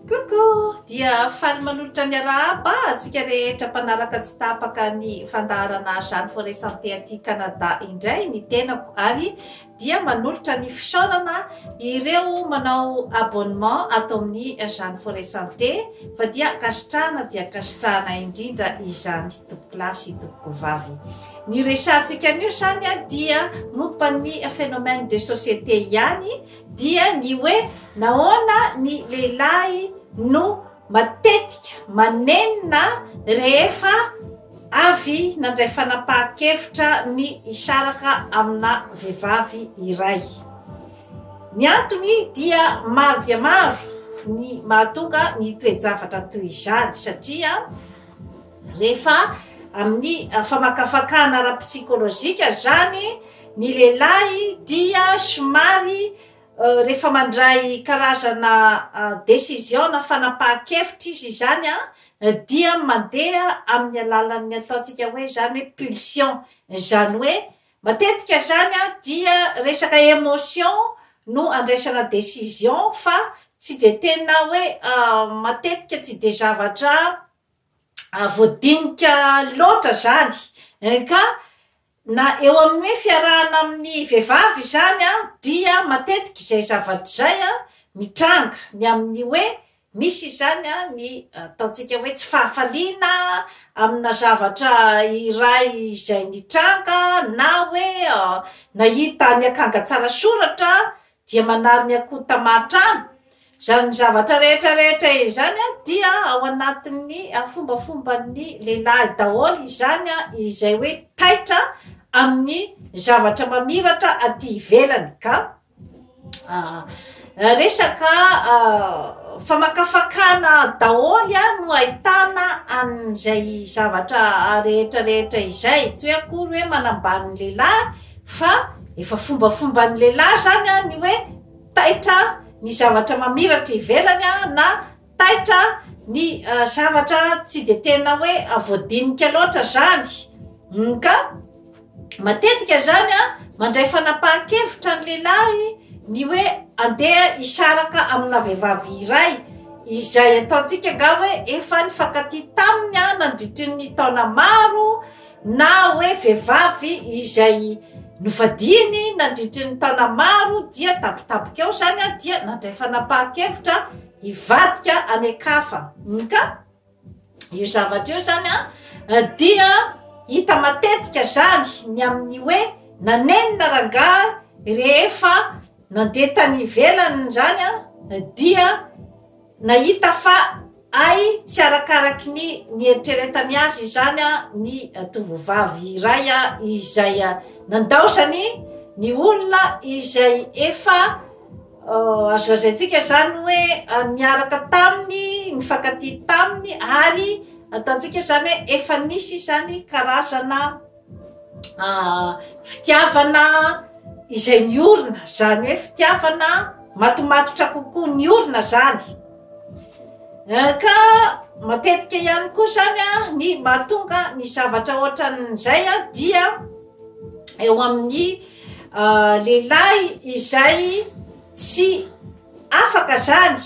Coucou! Dia faly manolotra ny arahaba antsika rehetra mpanaraka tsy tapaka ny fandaharana Jeanne Forêt Santé aty Canada indray ny tenako ary dia manolotra ny fisaorana ireo manao abonnement ato amin'ny Jeanne Forêt Santé fa dia ankasitrahana dia ankasitrahana indrindra izany tompoko lahy sy tompoko vavy. Ny resahantsika anio izany dia momba ny phénomène de société ihany dia ny hoe nahoana ny lehilahy no matetika manenina rehefa avy nandray fanapahan-kevitra ny hisaraka amina vehivavy iray. Ny antony dia maro dia maro ny mahatonga ny toe-javatra toy izany satria Rehefa amin'ny famakafakana ara-psikolojika izany ny lehilahy dia somary rehefa mandray karazana decision na fanapahan-kevitra izy izany dia mandeha amin'ny alalan'ny ataontsika hoe izany hoe pulsion, izany hoe matetika izany dia resaka emotion no andraisana decision fa tsy dia tena hoe matetika tsy dia zavatra a voadinika loatra zany eh, ka na eo amin'ny hoe fiarahana amin'ny vehivavy izany a dia matetika izay zavatra izay a mitranga ny amin'ny hoe misy izany a ny ataontsika hoe tsy fahafaliana amina zavatra iray izay nitranga na hoe nahita ny akanga tsara soratra dia manary ny akoho tamahan-trano. Izany zavatra rehetra rehetra izany dia ao anatin'ny fombafomban'ny lehilahy daholo izany izay hoe taitra amin'ny zavatra mamiratra aty ivelany ka resaka famakafakana daholo no ahitana an'izay zavatra rehetra rehetra izay tsy hoe akory hoe manambany lehilahy Fa efa fombafomban'ny lehilahy izany ny hoe taitra ny zavatra mamiratra ivelany na taitra ny zavatra tsy dia tena hoe voadinika loatra izany. Ka matetika izany mandray fanapahan-kevitra ny lehilahy ny hoe andeha hisaraka amina vehivavy iray izay ataontsika angaha hoe efa nifankatia taminy nandritry ny taona maro na hoe vehivavy izay nofadiany nandritry ny taona maro dia tampotampoka eo izany dia nandray fanapahan-kevitra hivadika any an-kafa. Ka io zavatra io izany dia hita matetika izany ny amin'ny hoe nanenina rangahy rehefa nandeha tany ivelany izany dia Nahita fa hay tsy arakaraky ny nieritreretany azy izany ny tovovavy iray izay nandaozany ny olona izay efa azo lazaintsika izany hoe niaraka taminy, nifankatia taminy ary ataontsika izany hoe efa nisy izany karazana. fitiavana izay niorina zany hoe fitiavana matomatotra kokoa niorina zany ka matetika ihany koa zany a ny mahatonga ny zavatra ohatran'izay a dia eo amin'ny lehilahy izay tsy afaka zany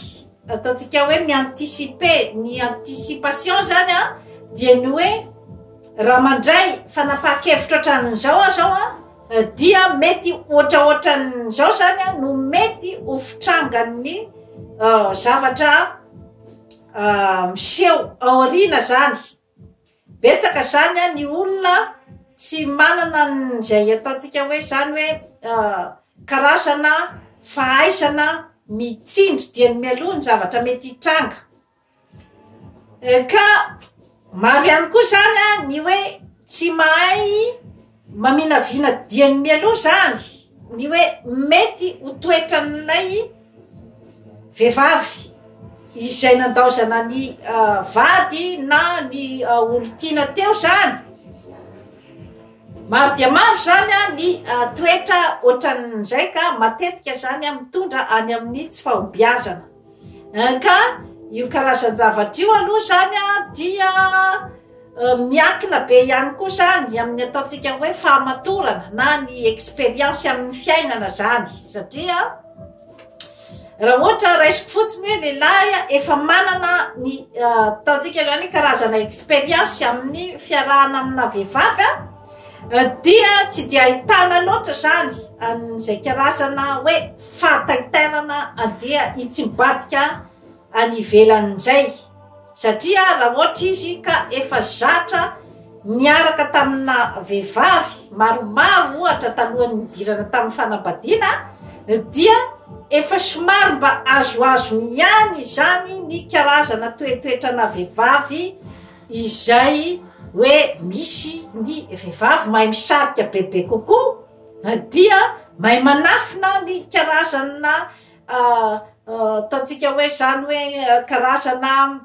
Ataontsika hoe mi-anticiper, ny anticipation zany an, dia ny hoe raha mandray fanapahan-kevitro hatranin'izao aho zao an, dia mety ohatraohatran'izao zany an no mety ho fitrangan'ny zavatra miseho aoriana zany, Betsaka izany an ny olona tsy manana izay ataontsika hoe izany hoe karazana fahaizana mitsindry dia ny mialoha ny zavatra mety hitranga ka maro ihany koa izany an ny hoe tsy mahay Maminavina dieny mialoha izany ny hoe mety ho toetran'ilay vehivavy izay nandaozana ny vady na ny olon-tiana teo izany. Maro dia maro izany ny toetra ohatran'izay ka matetika izany mitondra any amin'ny tsy fahombiazana. Ka io karazan-javatra io aloha izany dia miankina be ihany koa izany amin'ny ataontsika hoe fahamatorana na ny expérience amin'ny fiainana izany satria raha ohatra raisiko fotsiny hoe lehilahy efa manana ny ataontsika izany hoe karazana expérience amin'ny fiarahana amina vehivavy dia tsy dia ahitana loatra izany an'izay karazana hoe fahataitairana dia itsy mibadika any ivelany indray satria raha ohatra izy ka efa zatra niaraka tamina vehivavy maromaro ohatra talohan'ny nidirana tamin'ny fanambadiana dia efa somary mba azoazony ihany izany ny karazana toetoetrana vehivavy izay hoe misy ny vehivavy mahay misarika bebe kokoa Na dia mahay manafina ny karazana ataontsika hoe zany hoe karazana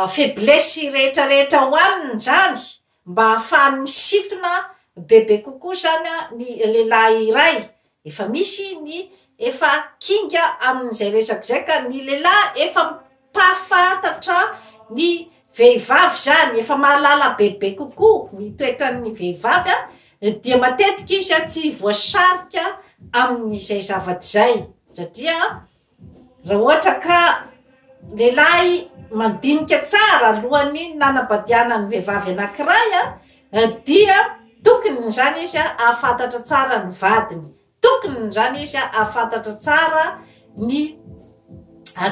faiblesse rehetra rehetra ao aminy zany mba hahafahany misintona bebe kokoa zany ny lehilahy iray Efa misy ny efa kinga amin'izay resaka izay ka ny lehilahy efa mpahafantatra ny vehivavy izany, efa mahalala bebe kokoa ny toetran'ny vehivavy dia matetika izy tsy voasarika amin'izay zavatra izay satria Raha ohatra ka lehilahy mandinika tsara alohan'ny nanambadiana ny vehivavy anankiray dia tokony izany izy hahafantatra tsara ny vadiny, tokony izany izy hahafantatra tsara ny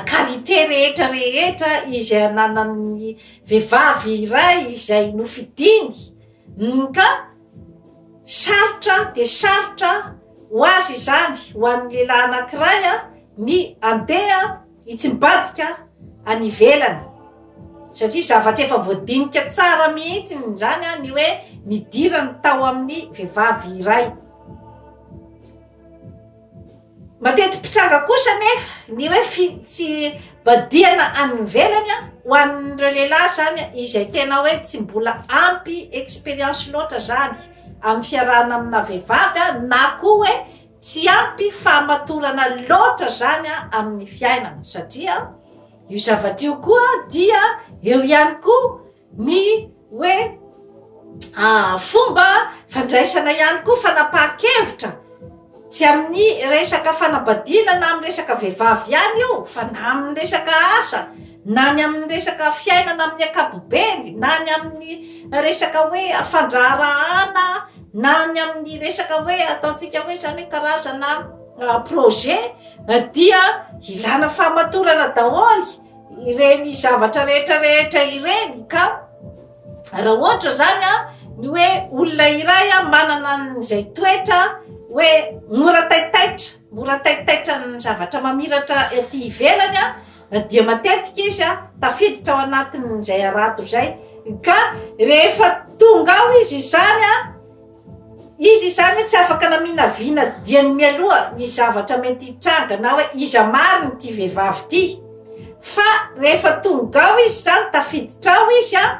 qualité rehetra rehetra izay ananan'ny vehivavy iray izay nofidiny ka. Sarotra dia sarotra ho azy izany, ho an'ny lehilahy anankiray, ny handeha hitsim-badika any ivelany. Satria zavatra efa voadinika tsara mihitsy izany ny hoe nidirany tao amin'ny vehivavy iray. Mateti-pitranga kosa anefa ny hoe fitsivadihana any ivelany, ho an'ireo lehilahy izany izay tena hoe tsy mbola ampy expérience loatra izany amin'ny fiarahana amina vehivavy na koa hoe tsy ampy fahamatorana loatra izany amin'ny fiainana satria io zavatra io koa dia eo ihany koa ny hoe fomba fandraisana ihany koa fanapahan-kevitra tsy amin'ny resaka fanambadiana na amin'ny resaka vehivavy ihany io fa na amin'ny resaka asa na ny amin'ny resaka fiainana amin'ny ankapobeny na ny amin'ny resaka hoe fandraharahana na ny amin'ny resaka hoe ataontsika hoe zany hoe karazana projet dia ilana fahamatorana daholo ireny zavatra rehetra rehetra ireny ka raha ohatra zany a ny hoe olona iray a manana n'izay toetra hoe mora taitaitra mora taitaitra ny zavatra mamiratra ety ivelany a dia matetika izy a tafiditra ao anatin'izay arato zay ka rehefa tonga ao izy izany a Izy izany tsy afaka naminavina diany mialoha ny zavatra mety hitranga na hoe iza marina ity vehivavy ity. Fa rehefa tonga ao izy izany, tafiditra ao izy an,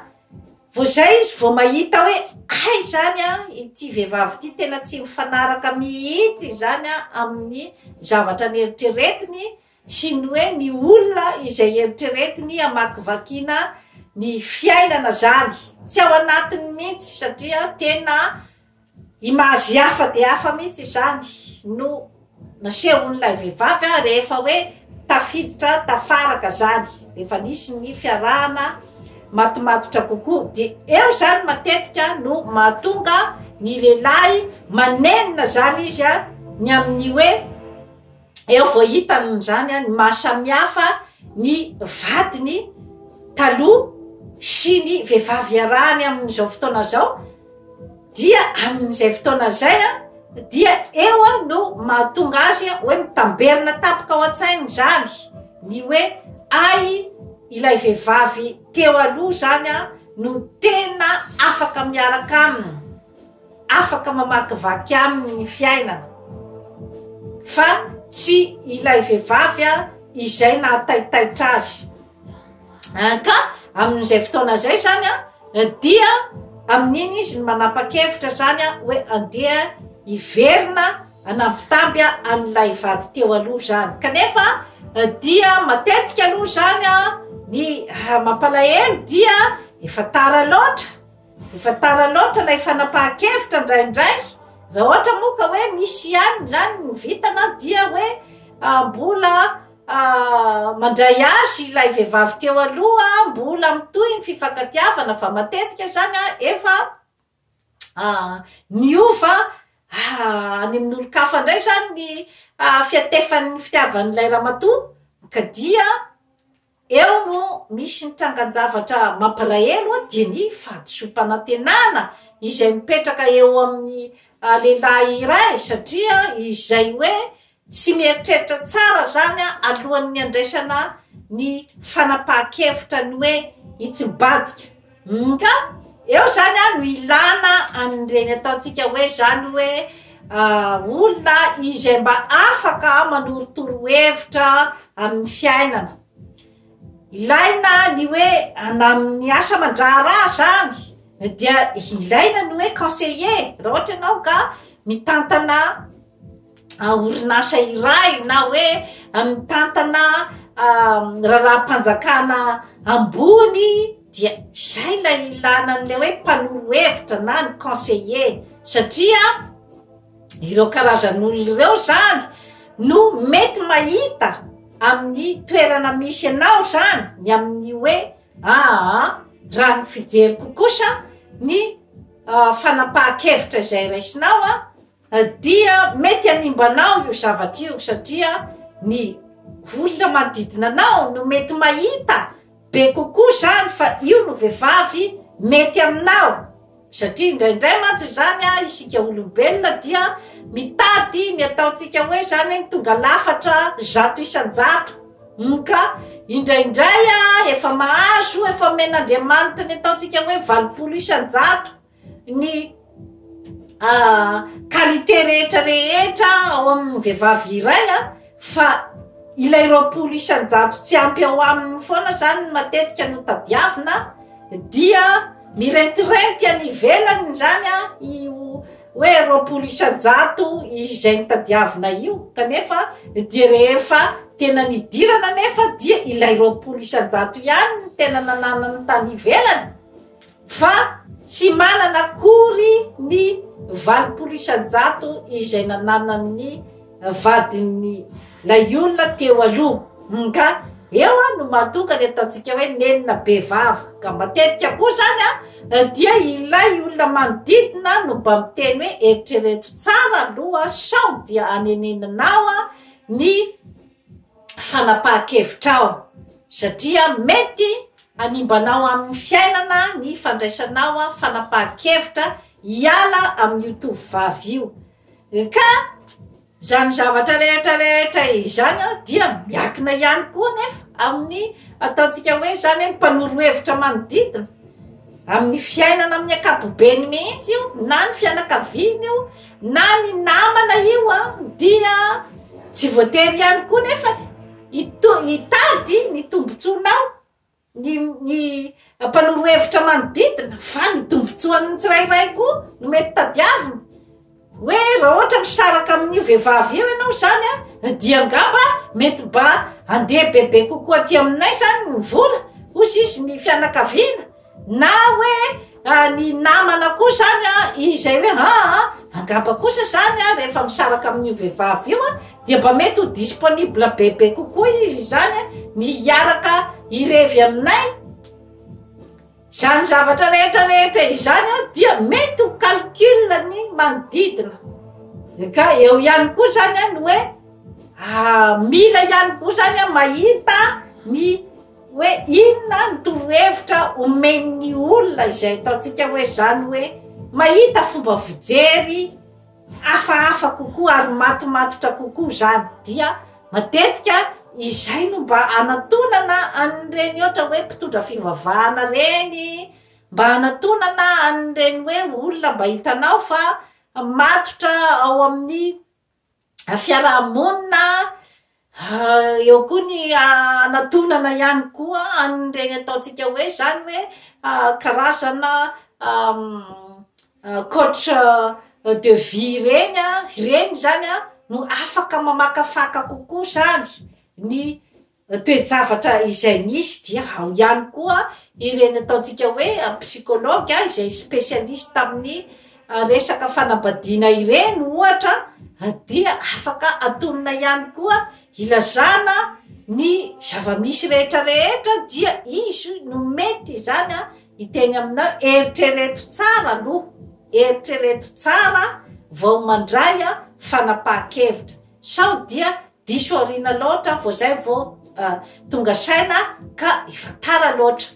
vao izay izy vao mahita hoe hay izany an, ity vehivavy ity tena tsy mifanaraka mihitsy izany an amin'ny zavatra neritreretiny sy ny hoe ny olona izay eritreretiny hamakivakiana ny fiainana zany tsy ao anatiny mihitsy satria tena image hafa dia hafa mihitsy izany no nasehon'ilay vehivavy a rehefa hoe tafiditra tafaraka zany rehefa nisy ny fiarahana matomatotra kokoa dia eo zany matetika no mahatonga ny lehilahy manenina zany izy a ny amin'ny hoe eo vao hita amin'izany ny maha samihafa ny vadiny taloha sy ny vehivavy iarahany amin'izao fotoana izao dia amin'izay fotoana izay a dia eo a no mahatonga azy a hoe mitamberina tapoka ao an-tsaina izany ny hoe ay ilay vehivavy teo aloha izany a no tena afaka miaraka aminy afaka mamakivaky aminy ny fiainana fa tsy ilay vehivavy a izay nahataitaitra azy ah, ka amin'izay fotoana izay zany a dia amin'iny izy ny manapa-kevitra zany a hoe andeha hiverina anampitamby a an'ilay vady teo aloha zany kanefa eh, dia matetika aloha zany a ny ah, mampalahelo dia efa tara loatra Efa tara loatra ilay fanapahan-kevitra indraindray, raha ohatra moa ka hoe misy ihany izany ny vintana dia hoe mbola mandray azy ilay vehivavy teo aloha, mbola mitohy ny fifankatiavana fa matetika izany efa niova any amin'olon-kafa indray izany ny fiatefan'ny fitiavan'ilay ramatoa ka dia. Eo no misy ny trangan-javatra mampalahelo dia ny fahadisoam-panantenana izay mipetraka eo amin'ny lehilahy iray satria izay hoe tsy mieritreritra tsara izany alohan'ny handraisana ny fanapahan-kevitra ny hoe hitsim-badika. Mk, eo zany an no ilana an'ireny ataontsika hoe zany hoe olona izay mba afaka manorotoro hevitra amin'ny fiainana, ilaina ny hoe na amin'ny asa aman-draharaha zany dia ilaina ny hoe conseiller raha ohatra ianao ka mitantana. orinasa iray na hoe mitantana raharaham-panjakana ambony dia izay ilay ilana an'ilay hoe mpanoro hevitra na ny conseiller satria ireo karazan'olona ireo zany no mety mahita amin'ny toerana misy anao zany ny amin'ny hoe aa raha ny fijeriko kosa ny ah, fanapahan-kevitra izay raisinao a Dia mety hanimba anao io zavatra io satria ny olona manodidina anao no mety mahita be kokoa izany fa io no vehivavy mety aminao satria indraindray mantsy izany an isika olombelona dia mitady ny ataontsika hoe izany hoe ny tonga lafatra zato isan-jato hum ka indraindray an efa mahazo efa omen'Andriamanitra ny ataontsika hoe valopolo isan-jato ny qualité rehetra rehetra ao amin'ny vehivavy iray a fa ilay roapolo isan-jato tsy ampy ao aminy foana zany no matetika no tadiavina dia mirentirenty any ivelany zany a io hoe roapolo isan-jato izay ny tadiavina io kanefa dia rehefa tena nidirana nefa dia ilay roapolo isan-jato ihany ny tena nananany tany ivelany Fa tsy manana akory ny valopolo isan-jato izay nananan'ny vadin'ilay olona teo aloha. Nga eo no mahatonga ny ataontsika hoe nenina be vava. Ka matetika koa izany dia ilay olona manodidina no mba miteny hoe eritrereto tsara aloha sao dia haneneninao ny. fanapahan-kevitra aho satria mety hanimba anao amin'ny fiainana ny fandraisanao fanapahan-kevitra hiala amin'io tovovavy io ka izany zavatra rehetra rehetra izany dia miakina ihany koa nefa amin'ny ataontsika hoe izany hoe mpanoro hevitra manodidina amin'ny fiainana amin'ny ankapobeny mihitsy io na ny fianakaviana io Na ny namana io a dia tsy voatery ihany koa nefa hito- hitady ny tombontsoanao ny ny mpanoro hevitra manodidina fa ny tombontsoan'ny tsirairay koa no mety tadiavina hoe raha ohatra misaraka amin'io vehivavy io ianao zany a dia angamba mety mba andeha bebe kokoa aty aminay zany ny vola hozy izy ny fianakaviana Na hoe ny namana koa zany a, izay hoe ha a, angamba kosa zany a rehefa misaraka amin'io vehivavy io a, dia mba mety ho disponible bebe kokoa izy izany a, ny hiaraka hirevy aminay, izany zavatra rehetra rehetra izany a dia mety ho calcul ny manodidina, ka eo ihany koa zany a ny hoe mila ihany koa zany a mahita ny. Hoe inona ny torohevitra omen'ny olona izay ataontsika hoe izany hoe mahita fomba fijery hafahafa kokoa ary matomatotra kokoa izany dia matetika izay no mba anatonana an'ireny ohatra hoe mpitondra fivavahana reny mba anatonana an'ireny hoe olona mba hitanao fa matotra ao amin'ny fiaraha-monina, eo koa ny hanatonana ihany koa an'ireny ataontsika hoe izany hoe karazana coach de vie ireny an, ireny izany an no afaka mamakafaka kokoa izany ny toe-javatra izay misy dia ao ihany koa ireny ataontsika hoe psychologue izay specialiste amin'ny resaka fanambadiana ireny ohatra dia afaka atonina ihany koa ilazana ny zava-misy rehetra rehetra dia izy no mety izany an hiteny aminao eritrereto tsara aloha eritrereto tsara vao mandray an fanapahan-kevitra sao dia Diso aoriana loatra vao zay vao tonga saina ka efa tara loatra.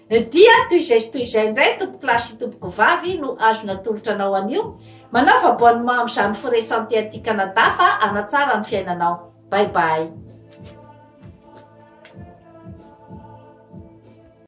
Dia toy izay sy toy izay indray tompoko lahy sy tompoko vavy no azo natolotra anao anio. Manao fa bonne main amin'izany forêt santé aty Canada fa hanatsara ny fiainanao. Bye bye.